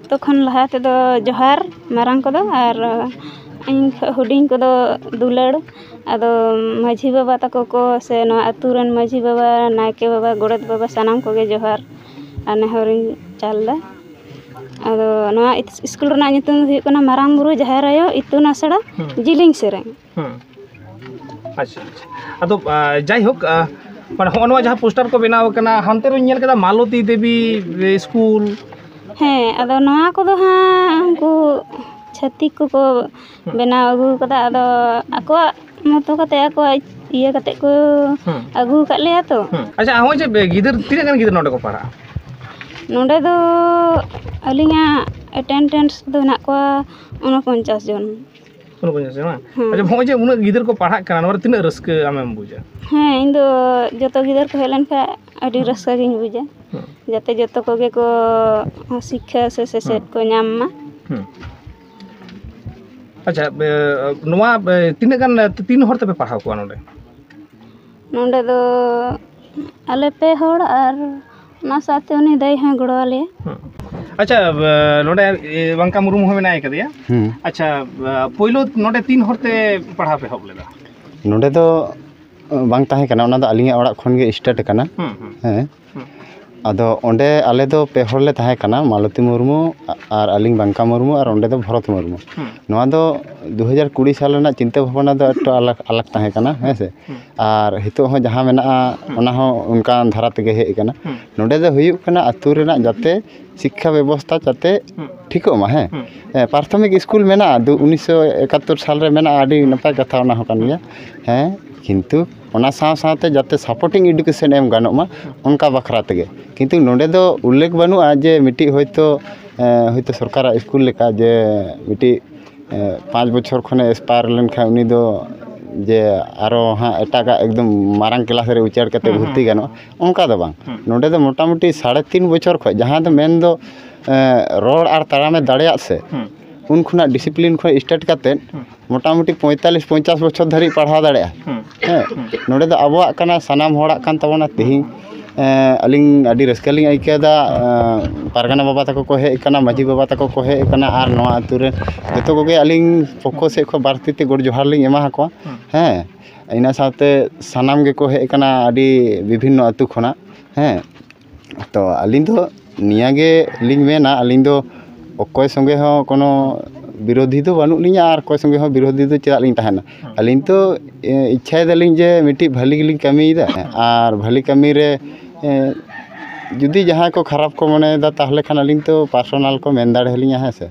ᱡᱚᱛᱚ ᱠᱷᱚᱱ ᱞᱟᱦᱟ ᱛᱮᱫᱚ ᱡᱚᱦᱟᱨ ᱢᱟᱨᱟᱝ ᱠᱚᱫᱚ ᱟᱨ ᱤᱧ ᱠᱷᱚᱱ ᱦᱩᱰᱤᱧ ᱠᱚᱫᱚ ᱫᱩᱞᱟᱹᱲ ᱟᱫᱚ ᱢᱟᱺᱡᱷᱤ ᱵᱟᱵᱟ ᱛᱟᱠᱚ ᱠᱚ ᱥᱮ ᱱᱚᱣᱟ ᱟᱹᱛᱩ ᱨᱮᱱ ᱢᱟᱺᱡᱷᱤ ᱵᱟᱵᱟ ᱱᱟᱭᱠᱮ ᱵᱟᱵᱟ ᱜᱚᱰᱮᱛ ᱵᱟᱵᱟ ᱥᱟᱱᱟᱢ ᱠᱚᱜᱮ ᱡᱚᱦᱟᱨ ᱟᱨ ᱱᱮᱦᱚᱨ ᱤᱧ ᱪᱟᱞ ᱮᱫᱟ ᱟᱫᱚ ᱱᱚᱣᱟ ᱤᱥᱠᱩᱞ ᱨᱮᱱᱟᱜ ᱧᱩᱛᱩᱢ ᱫᱚ ᱦᱩᱭᱩᱜ ᱠᱟᱱᱟ ᱢᱟᱨᱟᱝ ᱵᱩᱨᱩ ᱡᱟᱦᱮᱨ ᱟᱭᱳ ᱤᱛᱩᱱ ᱟᱥᱲᱟ ᱡᱤᱞᱤᱧ ᱥᱮᱨᱮᱧ ᱦᱮᱸ ᱟᱪᱪᱷᱟ ᱟᱫᱚ ᱡᱟᱭᱦᱳᱠ ᱢᱟᱱᱮ ᱦᱚᱸᱜᱼᱚ ᱱᱚᱣᱟ ᱡᱟᱦᱟᱸ ᱯᱳᱥᱴᱟᱨ ᱠᱚ ᱵᱮᱱᱟᱣ ᱠᱟᱱᱟ ᱦᱟᱱᱛᱮ ᱨᱮᱧ ᱧᱮᱞ ᱠᱮᱫᱟ ᱢᱟᱞᱚᱛᱤ ᱫᱮᱵᱤ ᱥᱠᱩᱞ ᱦᱮᱸ ᱟᱫᱚ ᱱᱚᱣᱟ ᱠᱚᱫᱚ ᱦᱟᱸᱜ ᱩᱱᱠᱩ ᱪᱷᱟᱹᱛᱤᱠ ᱠᱚᱠᱚ ᱵᱮᱱᱟᱣ ᱟᱹᱜᱩ ᱠᱟᱫᱟ ᱟᱫᱚ ᱟᱠᱚᱣᱟᱜ ᱢᱚᱛᱚ ᱠᱟᱛᱮ ᱟᱠᱚᱣᱟᱜ ᱤᱭᱟᱹ ᱠᱟᱛᱮ ᱠᱚ ᱟᱹᱜᱩ ᱠᱟᱫ ᱞᱮᱭᱟ ᱛᱚ ᱟᱪᱪᱷᱟ ᱦᱚᱸᱜᱼᱚᱭ ᱡᱮ ᱜᱤᱫᱟᱹᱨ ᱛᱤᱱᱟᱹᱜ ᱜᱟᱱ ᱜᱤᱫᱟᱹᱨ ᱱᱚᱰᱮ ᱠᱚ ᱯᱟᱲᱦᱟᱜᱼᱟ ᱱᱚᱰᱮ ᱫᱚ ᱟᱹᱞᱤᱧᱟᱜ ᱮᱴᱮᱱᱰᱮᱱᱥ ᱫᱚ ᱦᱮᱱᱟᱜ ᱠᱚᱣᱟ ᱩᱱᱚᱯᱚᱧᱪᱟᱥ ᱡᱚᱱ ᱩᱱᱟᱹᱜ ᱵᱟᱹᱧ ᱟᱥᱟᱭᱟ ᱵᱟᱝ ᱦᱮᱸ ᱟᱪᱪᱷᱟ ᱱᱚᱜᱼᱚᱭ ᱡᱮ ᱩᱱᱟᱹᱜ ᱜᱤᱫᱟᱹᱨ ᱠᱚ ᱯᱟᱲᱦᱟᱜ ᱠᱟᱱᱟ ᱱᱚᱣᱟ ᱨᱮ ᱛᱤᱱᱟᱹᱜ ᱨᱟᱹᱥᱠᱟᱹ ᱟᱢᱮᱢ ᱵᱩᱡᱟ ᱦᱮᱸ ᱤᱧ ᱫᱚ ᱡᱚᱛᱚ ᱜᱤᱫᱟᱹᱨ ᱠᱚ ᱦᱮᱡ ᱞᱮᱱᱠᱷᱟᱱ ᱟᱹᱰᱤ ᱨᱟᱹᱥᱠᱟᱹ ᱜᱤᱧ ᱵᱩᱡᱟ ᱦᱮᱸ ᱡᱟᱛᱮ ᱡᱚᱛᱚ ᱠᱚᱜᱮ ᱠᱚ ᱥᱤᱠᱠᱷᱟ ᱥᱮ ᱥᱮᱪᱮᱫ ᱠᱚ ᱧᱟᱢ ᱢᱟ ᱦᱮᱸ ᱟᱪᱪᱷᱟ ᱮ, ᱱᱚᱣᱟ ᱮ, ᱛᱤᱱᱟᱹᱜ ᱜᱟᱱ ᱮ, ᱛᱤᱱ ᱦᱚᱲ ᱛᱮᱯᱮ ᱯᱟᱲᱦᱟᱣ ᱠᱚᱣᱟ ᱱᱚᱰᱮ ᱱᱚᱰᱮ ᱫᱚ ᱟᱞᱮ ᱯᱮ ᱦᱚᱲ ᱟᱨ ᱚᱱᱟ ᱥᱟᱶᱛᱮ ᱩᱱᱤ ᱫᱟᱹᱭ ᱦᱚᱸᱭ ᱜᱚᱲᱚ ᱟᱞᱮᱭᱟ ᱟᱪᱪᱷᱟ ᱵᱟ- ᱱᱚᱰᱮ ᱮ, ᱵᱟᱝᱠᱟ ᱢᱩᱨᱢᱩ ᱦᱚᱸ ᱢᱮᱱᱟᱭ ᱠᱟᱫᱮᱭᱟ ᱦᱮᱸ ᱟᱪᱪᱷᱟ ᱵᱟ, ᱯᱳᱭᱞᱳ ᱱᱚᱰᱮ ᱛᱤᱱ ᱦᱚᱲᱛᱮ ᱯᱟᱲᱦᱟᱣ ᱯᱮ ᱮᱦᱚᱵ ᱞᱮᱫᱟ ᱱᱚᱰᱮ ᱫᱚ ᱵᱟᱝ ᱛᱟᱦᱮᱸ ᱠᱟᱱᱟ ᱚᱱᱟ ᱫᱚ ᱟᱹᱞᱤᱧᱟᱜ ᱚᱲᱟᱜ ᱠᱷᱚᱱ ᱜᱮ ᱥᱴᱟᱨᱴ ᱠᱟᱱᱟ ᱦᱮᱸ ᱦᱮᱸ ᱦᱮᱸ ᱟᱫᱚ ᱚᱸᱰᱮ ᱟᱞᱮ ᱫᱚ ᱯᱮ ᱦᱚᱲ ᱞᱮ ᱛᱟᱦᱮᱸ ᱠᱟᱱᱟ ᱢᱟᱞᱚᱛᱤ ᱢᱩᱨᱢᱩ ᱟᱨ ᱟᱹᱞᱤᱧ ᱵᱟᱝᱠᱟ ᱢᱩᱨᱢᱩ ᱟᱨ ᱚᱸᱰᱮ ᱫᱚ ᱵᱷᱚᱨᱚᱛ ᱢᱩᱨᱢᱩ ᱱᱚᱣᱟ ᱫᱚ ᱫᱩ ᱦᱟᱡᱟᱨ ᱠᱩᱲᱤ ᱥᱟᱞ ᱨᱮᱱᱟᱜ ᱪᱤᱱᱛᱟᱹ ᱵᱷᱟᱵᱽᱱᱟ ᱫᱚ ᱮᱠᱴᱩ ᱟᱞᱟᱜᱽ ᱟᱞᱟᱜᱽ ᱛᱟᱦᱮᱸ ᱠᱟᱱᱟ ᱦᱮᱸ ᱥᱮ ᱟᱨ ᱱᱤᱛᱚᱜ ᱦᱚᱸ ᱡᱟᱦᱟᱸ ᱢᱮᱱᱟᱜᱼᱟ ᱚᱱᱟ ᱦᱚᱸ ᱚᱱᱠᱟᱱ ᱫᱷᱟᱨᱟ ᱛᱮᱜᱮ ᱦᱮᱡ ᱠᱟᱱᱟ ᱱᱚᱰᱮ ᱫᱚ ᱦᱩᱭᱩᱜ ᱠᱟᱱᱟ ᱟᱛᱳ ᱨᱮᱱᱟᱜ ᱡᱟᱛᱮ ᱥᱤᱠᱠᱷᱟ ᱵᱮᱵᱚᱥᱛᱷᱟ ᱡᱟᱛᱮ ᱴᱷᱤᱠᱚᱜ ᱢᱟ ᱦᱮᱸ ᱯᱨᱟᱛᱷᱚᱢᱤᱠ ᱥᱠᱩᱞ ᱢᱮᱱᱟᱜᱼᱟ ᱩᱱᱤᱥᱥᱚ ᱮᱠᱟᱛᱛᱳᱨ ᱥᱟᱞᱨᱮ ᱢᱮᱱᱟᱜᱼᱟ ᱟᱹᱰᱤ ᱱᱟᱯᱟᱭ ᱠᱟᱛᱷᱟ ᱚᱱᱟ ᱦᱚᱸ ᱠᱟᱱ ᱜᱮᱭᱟ ᱦᱮᱸ ᱠᱤᱱᱛᱩ ᱚᱱᱟ ᱥᱟᱶ ᱥᱟᱶᱛᱮ ᱡᱟᱛᱮ ᱥᱟᱯᱳᱨᱴᱤᱝ ᱮᱰᱩᱠᱮᱥᱮᱱ ᱮᱢ ᱜᱟᱱᱚᱜ ᱢᱟ ᱚᱱᱠᱟ ᱵᱟᱠᱷᱨᱟ ᱛᱮᱜᱮ ᱠᱤᱱᱛᱩ ᱱᱚᱰᱮ ᱫᱚ ᱩᱞᱞᱮᱠᱷ ᱵᱟᱹᱱᱩᱜᱼᱟ ᱡᱮ ᱢᱤᱫᱴᱤᱡ ᱦᱚᱭᱛᱳ ᱦᱚᱭᱛᱳ ᱥᱚᱨᱠᱟᱨᱟᱜ ᱥᱠᱩᱞ ᱞᱮᱠᱟ ᱡᱮ ᱢᱤᱫᱴᱤᱡ ᱯᱟᱸᱪ ᱵᱚᱪᱷᱚᱨ ᱠᱷᱚᱱᱮ ᱮᱠᱥᱯᱟᱭᱟᱨ ᱞᱮᱱᱠᱷᱟᱡ ᱩᱱᱤ ᱫᱚ ᱡᱮ ᱟᱨᱚ ᱦᱟᱸᱜ ᱮᱴᱟᱜᱟᱜ ᱮᱠᱫᱚᱢ ᱢᱟᱨᱟᱝ ᱠᱞᱟᱥ ᱨᱮ ᱩᱪᱟᱹᱲ ᱠᱟᱛᱮ ᱵᱷᱚᱨᱛᱤ ᱜᱟᱱᱚᱜᱼᱟ ᱚᱱᱠᱟ ᱫᱚ ᱵᱟᱝ ᱱᱚᱰᱮ ᱫᱚ ᱢᱳᱴᱟᱢᱩᱴᱤ ᱥᱟᱲᱮ ᱛᱤᱱ ᱵᱚᱪᱷᱚᱨ ᱠᱷᱚᱡ ᱡᱟᱦᱟᱸ ᱫᱚ ᱢᱮᱱᱫᱚ ᱨᱚᱲ ᱟᱨ ᱛᱟᱲᱟᱢᱮ ᱫᱟᱲᱮᱭᱟᱜ ᱥᱮ ᱩᱱ ᱠᱷᱚᱱᱟᱜ ᱰᱤᱥᱤᱯᱤᱞᱤᱱ ᱠᱷᱚᱡ ᱥᱴᱟᱨᱴ ᱠᱟᱛᱮ ᱢᱳᱴᱟᱢᱩᱴᱤ ᱯᱚᱸᱭᱛᱟᱞᱞᱤᱥ ᱯᱚᱧᱪᱟᱥ ᱵᱚᱪᱷᱚᱨ ᱫᱷᱟᱹᱵᱤᱡ ᱯᱟᱲᱦᱟᱣ ᱫᱟᱲᱮᱭᱟᱜᱼᱟ ᱦᱮᱸ ᱱᱚᱰᱮ ᱫᱚ ᱟᱵᱚᱣᱟᱜ ᱠᱟᱱᱟ ᱥᱟᱱᱟᱢ ᱦᱚᱲᱟᱜ ᱠᱟᱱ ᱛᱟᱵᱚᱱᱟ ᱛᱮᱦᱤᱧ ᱟᱹᱞᱤᱧ ᱟᱹᱰᱤ ᱨᱟᱹᱥᱠᱟᱹ ᱞᱤᱧ ᱟᱹᱭᱠᱟᱹᱣᱫᱟ ᱯᱟᱨᱜᱟᱱᱟ ᱵᱟᱵᱟ ᱛᱟᱠᱚ ᱠᱚ ᱦᱮᱡ ᱠᱟᱱᱟ ᱢᱟᱹᱡᱷᱤ ᱵᱟᱵᱟ ᱛᱟᱠᱚ ᱠᱚ ᱦᱮᱡ ᱠᱟᱱᱟ ᱟᱨ ᱱᱚᱣᱟ ᱟᱹᱛᱩ ᱨᱮ ᱡᱚᱛᱚ ᱠᱚᱜᱮ ᱟᱹᱞᱤᱧ ᱯᱚᱠᱠᱷᱚ ᱥᱮᱫ ᱠᱷᱚᱱ ᱵᱟᱨ ᱛᱤᱛᱮ ᱜᱚᱰ ᱡᱚᱦᱟᱨ ᱞᱤᱧ ᱮᱢᱟ ᱠᱚᱣᱟ ᱦᱮᱸ ᱤᱱᱟᱹ ᱥᱟᱶᱛᱮ ᱥᱟᱱᱟᱢ ᱜᱮᱠᱚ ᱦᱮᱡ ᱠᱟᱱᱟ ᱟᱹᱰᱤ ᱵᱤᱵᱷᱤᱱᱱᱚ ᱟᱹᱛᱩ ᱠᱷᱚᱱᱟᱜ ᱦᱮᱸ ᱛᱚ ᱟᱹᱞᱤᱧ ᱫᱚ ᱱᱤᱭᱟᱹ ᱜᱮᱞᱤᱧ ᱢᱮᱱᱟ ᱟᱹᱞᱤᱧ ᱫᱚ ᱚᱠᱚᱭ ᱥᱚᱸᱜᱮ ᱦᱚᱸ ᱠᱳᱱᱳ ᱵᱤᱨᱳᱫᱷᱤ ᱫᱚ ᱵᱟᱹᱱᱩᱜ ᱞᱤᱧᱟᱹ ᱟᱨ ᱚᱠᱚᱭ ᱥᱚᱸᱜᱮ ᱦᱚᱸ ᱵᱤᱨᱳᱫᱷᱤ ᱫᱚ ᱪᱮᱫᱟᱜ ᱞᱤᱧ ᱛᱟᱦᱮᱱᱟ ᱟᱹᱞᱤᱧ ᱛᱚ ᱤᱪᱪᱷᱟᱭ ᱫᱟᱞᱤᱧ ᱡᱮ ᱢᱤᱫᱴᱤᱡ ᱵᱷᱟᱹᱞᱤ ᱜᱮᱞᱤᱧ ᱠᱟᱹᱢᱤᱭᱮᱫᱟ ᱟᱨ ᱵᱷᱟᱹᱞᱤ ᱠᱟᱹᱢᱤ ᱨᱮ ᱡᱩᱫᱤ ᱡᱟᱦᱟᱸᱭ ᱠᱚ ᱠᱷᱟᱨᱟᱯ ᱠᱚ ᱢᱚᱱᱮᱭᱮᱫᱟ ᱛᱟᱦᱚᱞᱮ ᱠᱷᱟᱱ ᱟᱹᱞᱤᱧ ᱛᱚ ᱯᱟᱨᱥᱳᱱᱟᱞ ᱠᱚ ᱢᱮᱱ ᱫᱟᱲᱮ ᱟᱹᱞᱤᱧᱟ ᱦᱮᱸ ᱥᱮ